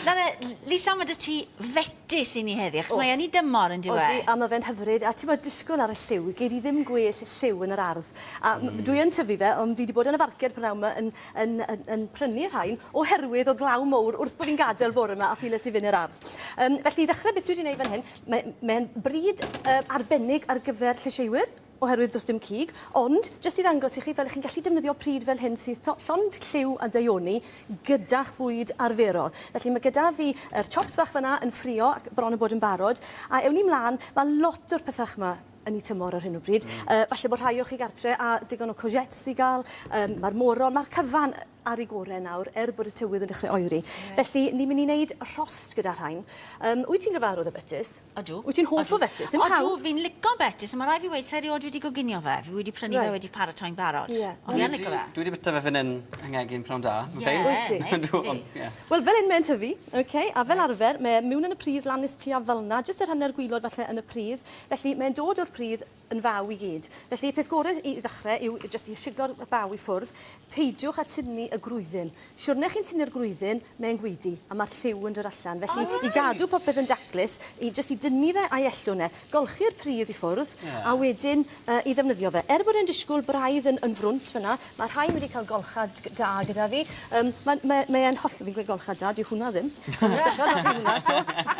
Nawr de, Lisa, mae 'da ti fetys i ni heddi, achos mae yn ei dymor, yn dyw e? Odi, a mae fe'n hyfryd, a tibod, disgwyl ar y lliw, gei di ddim gwell lliw yn yr ardd. A dwi yn tyfu fe, ond fi 'di bod yn y farched prynawn 'ma yn yn yn yn prynu rhain, oherwydd o'dd glaw mowr wrth bo' fi'n gadel bore 'ma a fi le ti fyn' i'r ardd. Yym, felly i ddechre, beth dwi 'di neud fan hyn, mae mae e'n bryd yy arbennig ar gyfer llysieuwyr. oherwydd does dim cig, ond jyst i ddangos i chi fel chi'n gallu defnyddio pryd fel hyn sydd to- llond lliw a deuoni gyda'ch bwyd arferol. Felly mae gyda fi yr chops bach fan'na yn ffrio ac bron yn bod yn barod, a ewn ni mlan, ma' lot o'r pethach 'ma yn eu tymor ar hyn o bryd, yy falle bod rhai o chi gartre â digon o courgettes i ga'l, yym ma'r moron, ma'r cyfan, ar ei gore nawr er bod y tywydd yn dechrau oeri. Felly ni'n mynd i wneud rhost gyda rhain. Um, wyt ti'n gyfarwydd â betys? Ydw. Wyt ti'n hoff o betys? Yn pawb? Ydw, fi'n lico betys, ond mae rai fi wedi sa i rioed wedi goginio fe. Fi wedi prynu right. fe wedi paratoi'n barod. Yeah. Ond fi yn lico fe. Dwi wedi byta fe fan hyn yng ngegin pnawn da. Yeah, wyt ti? Wel, fel un mae'n tyfu, okay, a fel arfer, mae mewn yn y pridd lan nes tua fel na, jyst yr hanner gwylod falle yn y pridd. Felly mae'n dod o'r pridd yn faw i gyd. Felly y peth gore i ddechrau yw jyst i shiglo'r baw i ffwrdd. Peidiwch â tynnu y gwrywddyn. Siwrne chi'n tynnu'r gwrywddyn, mae'n gweidi, a mae'r lliw yn dod allan. Felly i gadw popeth yn daclus, i jyst i dynnu fe a'i ellwn e. Golchi'r pridd i ffwrdd, a wedyn i ddefnyddio fe. Er bod e'n disgwyl braidd yn frwnt fan'na, Mae rhain wedi cael golchad da gyda fi. Um, mae, mae, mae e'n holl... Fi'n gweud golchad da, di hwnna ddim.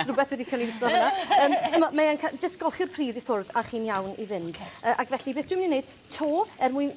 Rhywbeth wedi cael ei iso hwnna. Um, mae e'n cael... Just golchi'r pridd i ffwrdd a chi'n iawn i fynd. Okay. Uh, ac felly, beth dwi'n mynd i wneud? To, er mwyn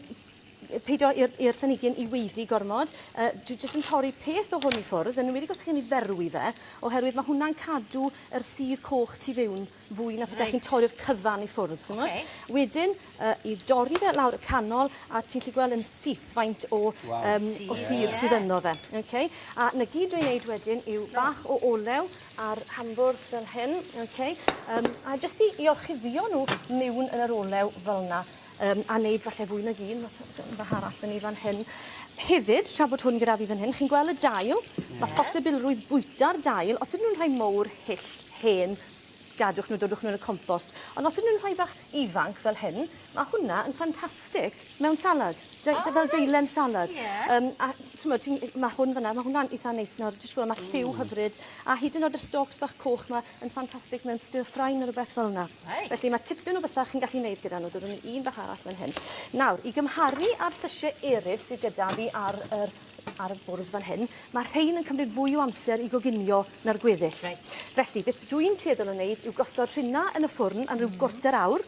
peidio i'r planigyn i weidi gormod. Uh, dwi jyst yn torri peth o hwn i ffwrdd, yn wedi gosod chi'n ei ferw i fe, oherwydd mae hwnna'n cadw yr sydd coch tu fewn fwy na pryd reit. chi'n torri'r cyfan i ffwrdd. Chimod? Okay. Wedyn, uh, i dorri fe lawr y canol, a ti'n lli gweld yn syth faint o, wow. um, o sydd yeah. sydd yno fe. Okay? A na gyd dwi'n neud wedyn yw bach o olew ar hambwrdd fel hyn. Okay? Um, a jyst i, i orchuddio nhw mewn yn yr olew fel yna. Yym a neud falle fwy nag un fath o yy bach arall 'da ni fan hyn. Hefyd tra bod hwn gyda fi fan hyn chi'n gwel' y dail? Ie. Ma' posibilrwydd bwyta'r dail os ydyn nw'n rhai mowr, hyll, hen gadwch nw dodwch nw yn y compost on' os ydyn nw'n rhai bach ifanc fel hyn ma' hwnna yn ffantastic mewn salad. Dei- O reit. ...fel deilen salad. Ie. Yym a t- t'mod ti'n ma' hwn fan 'na ma' hwnna'n itha neis nawr jyst gwel' ma' lliw hyfryd a hyd yn o'd y stalks bach coch 'ma yn ffantastig mewn stir ffrain neu rhywbeth fel yna. Reit. Felly mae tipyn o bethau chi'n gallu neud gyda nhw. Dod nhw un bach arall fan hyn. Nawr, i gymharu â'r llysie eraill sydd gyda fi ar yr ar y bwrdd fan hyn, mae rhain yn cymryd fwy o amser i goginio na'r gweddill. Reit. Felly, beth dwi'n tueddol o wneud yw gosod rhina yn y ffwrn am rhyw mm. gwrter awr,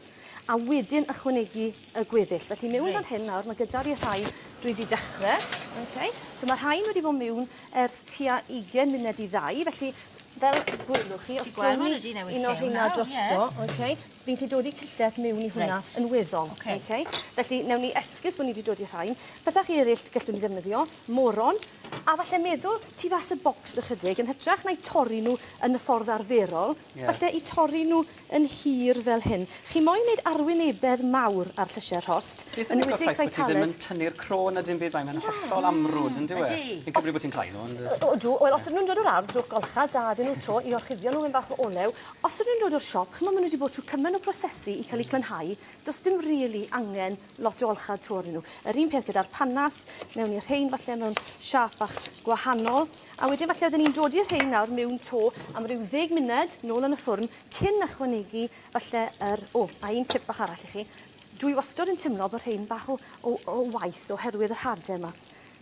a wedyn ychwanegu y gweddill. Felly mewn right. fan hyn nawr, mae gyda fi rhai dwi wedi dechrau. Okay. So mae rhain wedi bod mewn ers tua 20 munud i ddau, felly fel gwylwch chi, os dwi'n ni un o'r hynna drosto, yeah. okay, fi'n gallu dod i cyllell mewn i hwnna right. yn weddol. Okay. Okay. Felly, newn ni esgus bod ni wedi dod i rhain. Pethau chi eraill gallwn ni ddefnyddio, moron, a falle meddwl tu fas y bocs ychydig, yn hytrach na'i torri nhw yn y ffordd arferol, yeah. falle i torri nhw yn hir fel hyn. Chi moyn neud arwynebedd mawr ar llysie rhost, yn enwedig Vitaled. Beth am y ffaith bod ti ddim yn tynnu'r cro na dim byd, mae mae'n hollol amrwd, yn dyw e? Ydi. Fi'n cymryd bod ti'n cloi nhw, ond... O, ydw. Wel, os ydyn nhw'n dod o'r ardd, rhowch golcha da iddyn nhw 'to i orchuddio nhw mewn bach o olew. Os ydyn nhw'n dod o'r siop, ch'mo' ma' nhw 'di bod trw cymaint o brosesu i ca'l 'u clynhau, do's dim rili angen lot o olchau tu ôl i nhw. Yr un peth gyda'r panas, mewn i'r rhein falle mewn siap bach gwahanol. A wedyn falle oedden ni'n dod i'r rhein nawr mewn to am ryw ddeg munud, nôl yn y ffwrn, cyn ychwanegu falle yr... O, a un tip bach arall i chi. Dwi wastod yn timlo bod rhein bach o, o, o waith oherwydd yr hade yma.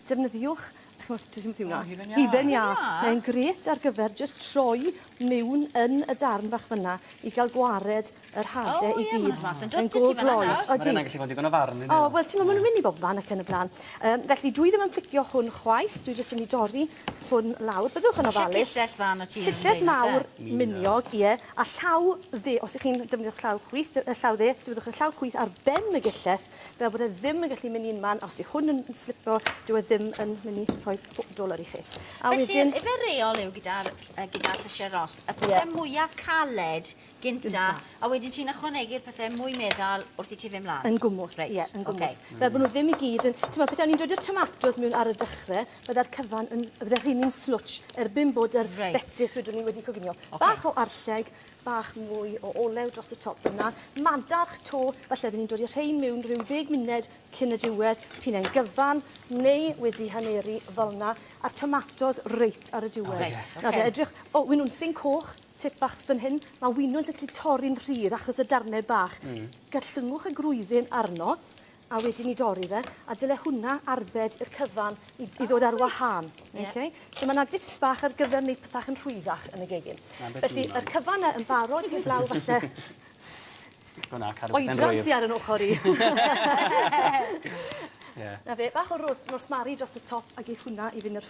defnyddiwch ch'mod dwi ddim yn teimlo... O hufen iâ. ...hufen iâ. Hufen iâ? Mae'n grêt ar gyfer jyst troi miwn yn y darn bach fyn 'na i ga'l gwared yr hade i gyd. O ie ma' 'na fas yn dod 'dy ti fan yna. Mae'n go' gloes. Odi. Ma' wnna'n gallu bod digon o farw on'd yw? O wel t'mo' ma' nw'n myn' i bobman ac yn y bla'n. Yym felly dwi ddim yn plicio hwn chwaith dwi jyst yn myn' i dorri hwn lawr. Byddwch yn ofalus. Isie cillell dda arnot ti yn Llellyll mawr miniog ie a llaw dde os 'ych chi'n defnyddio ch- llaw chwith yy llaw dde defnyddiwch y llaw chwith ar ben y gillell fel bod e ddim yn gallu mynd i'n man, os yw hwn yn, yn slipo, dyw e ddim yn mynd i rhoi doler i chi. A Felly, wedyn... efe reol yw gyda'r gyda, gyda llysiau rost, y pethau yeah. mwyaf caled gynta, gynta, a wedyn ti'n ychwanegu'r pethau mwy meddal wrth i ti fe mlaen? Yn gwmwys, ie, right. yeah, yn gwmwys. Okay. Fel bod nhw ddim i gyd yn... Ti'n meddwl, pethau ni'n dod i'r tomatos mewn ar y dechrau, bydde'r cyfan yn... bydde'r rhini'n slwtch erbyn bod yr right. betis wedwn ni wedi coginio. Okay. Bach o arlleg, bach mwy o olew dros y top yna. Madarch to, falle oedden ni'n dod i'r rhain mewn rhyw ddeg munud cyn y diwedd, pyn e'n gyfan, neu wedi haneru fel yna, a'r tomatos reit ar y diwedd. Oh, right, okay. Nawr, edrych, o, oh, winw'n sy'n coch, tip bach fan hyn, mae winwns yn gallu torri'n rhydd achos y darnau bach. Mm. Gallyngwch y grwyddyn arno, a wedyn ni dorri fe, a dyle hwnna arbed i'r cyfan i, i ddod ar wahân. Yeah. Okay? So mae yna dips bach ar gyfer wneud pethau yn rhwyddach yn y gegin. Felly, yr cyfan yn barod heblaw falle... Gwna, cadw fe'n rwydd. Oedran sy ar yn ochr i. yeah. Na fe, bach o rosmari dros y top a geith hwnna i fynd yr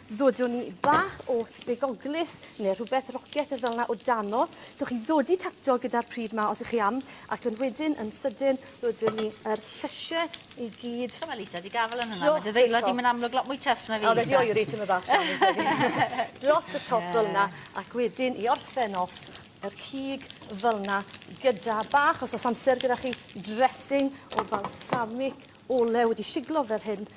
ddodwn i, bach o sbegoglys neu rhywbeth rocet neu fel 'na o dano. Gewch chi ddodi tato gyda'r pridd 'ma os 'ych chi am, ac yn wedyn yn sydyn ddodwn ni yr llysie i gyd. T'o' ma' Lisa 'di gafel yn hwnna. Dros y top. Ma' dy ddeillo di'n myn' amlwg lot mwy tyff na fi Lisa. O fe 'di oeri tyme' bach Sian fi'n credu. Dros y top fel 'na ac wedyn i orffen off yr cig fel 'na gyda bach os o's amser gyda chi dressing o balsamic olew wedi shiglo fel hyn